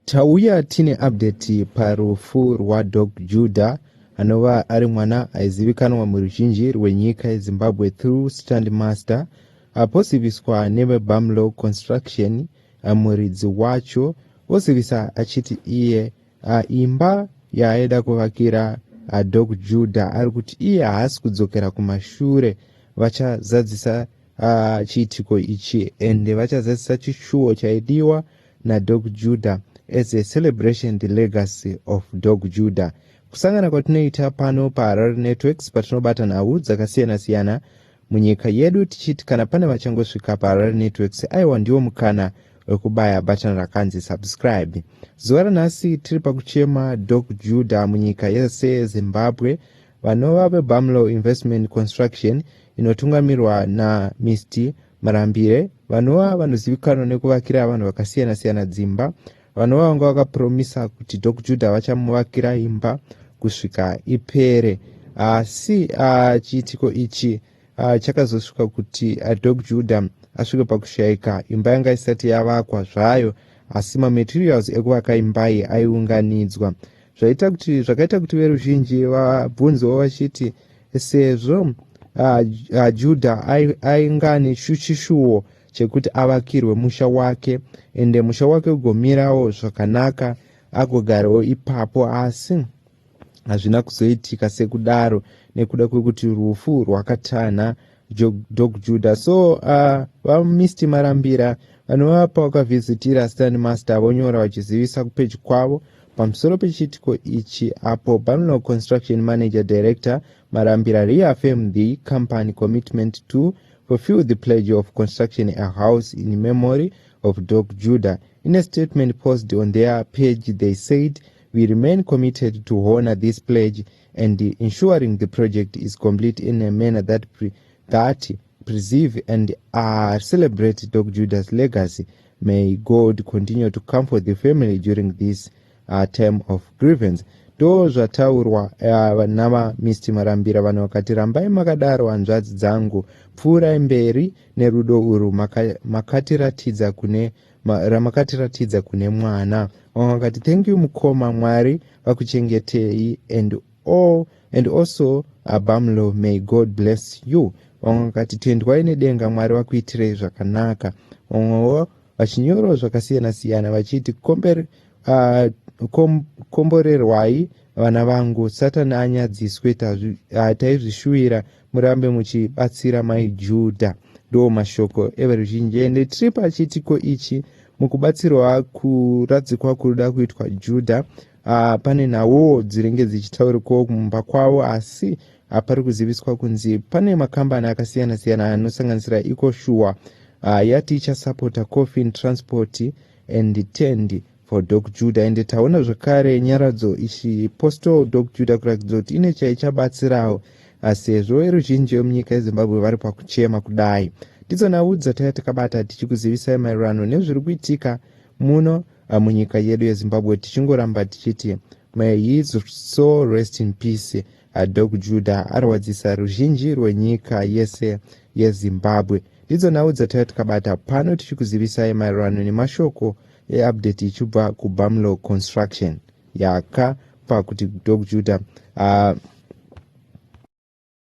Tauya tine update parufu rwaDoc Juda anova ari mwana aizivikanwa muruzhinji rwenyika yeZimbabwe through Stand Master aposiviswa neveBamlow Construction muridzi wacho osivisa achiti iye imba yaaida kuvakira Doc Juda ari kuti iye haasi kudzokera kumashure vachazadzisa chiitiko ichi ende vachazadzisa chishuwo chaidiwa naDog Judah as a celebration the legacy of Dog Judah. Kusangana kwatinoita pano paHarare Networks patinobata nhau dzakasiyana-siyana munyika yedu tichiti kana pane vachangosvika paHarare Networks aiwa ndiwo mukana wekubaya bhatani rakanzi subscribe. Zuva ranhasi tiri pakuchema Dog Judah munyika yese Zimbabwe vanova veBamlow Investment Construction inotungamirwa naMr Marambire, vanova vanozivikanwa nekuvakira vanhu vakasiyana siyana dzimba, vanova vanga vakapromisa kuti Dok Judah vachamuvakira imba kusvika ipere. Asi ah, chiitiko ichi ah, chakazosvika kuti ah, Dok Judah asvike pakushaika imba yanga isati yavakwa zvayo, asi mamaterials ekuvaka imba iyi aiunganidzwa zvaita kuti zvakaita kuti veruzhinji vabvunzewo vachiti sezvo ah, ah, judha ai- ainga ane shu- chishuwo chekuti avakirwe musha wake ende musha wake ugomirawo zvakanaka agogarawo ipapo asi hazvina kuzoitika sekudaro nekuda kwekuti rufu rwakatanha dog juda so uh, vamist marambira vanova pawakavhizitira stand master vonyora vachizivisa kupeji kwavo pamusoro pechiitiko ichi apo banlog construction manager director marambira reaffirm the company commitment to fulfill the pledge of construction a house in memory of dog judah in a statement posted on their page they said we remain committed to honor this pledge and ensuring the project is complete in a manner that, pre, that preserve and uh, celebrate Doc Judas' legacy. May God continue to comfort the family during this uh, term of grievance. ndo zvataurwa uh, navamr marambira vanhu vakati rambai makadaro hanzvadzi dzangu pfuurai mberi nerudo urwu makatiratidza maka kune Ma, ramakatiratidza kune mwana vamwe vakati thank you mukoma mwari vakuchengetei and all and also abamlo may god bless you vamwe vakati tendwai nedenga mwari vakuitirei zvakanaka vamwewo vachinyorawo zvakasiyana siyana vachiti komber, uh, kom, komborerwai vana vangu satani anyadziswe ah, taizvishuvira murambe muchibatsira mai judha ndo mashoko everuzhinji ende tiri pachiitiko ichi mukubatsirwa kuradzikwa kuri da kuitwa judha uh, pane nhawowo dzinenge dzichitaurikwawo kumumba kwavo asi hapari uh, kuziviswa kunzi pane makambani akasiyana siyana anosanganisira iko shuwa uh, yati ichasapota coffin transport and tend for dok juda ende taona zvekare nyaradzo ichi postal dok juda kuratidza kuti ine chaichabatsirawo asi hezvo veruzhinji vemunyika yezimbabwe vari pakuchema kudai ndidzo nhau dzataiya takabata tichikuzivisai maererano nezviri kuitika muno ah, munyika yedu yezimbabwe tichingoramba tichiti may his soul rest in peace ah, dok juda arwadzisa ruzhinji rwenyika yese yezimbabwe ndidzo nhau dzataiya takabata pano tichikuzivisai maererano nemashoko eupdate ichibva kubamlo construction yaka pakuti dog juda uh,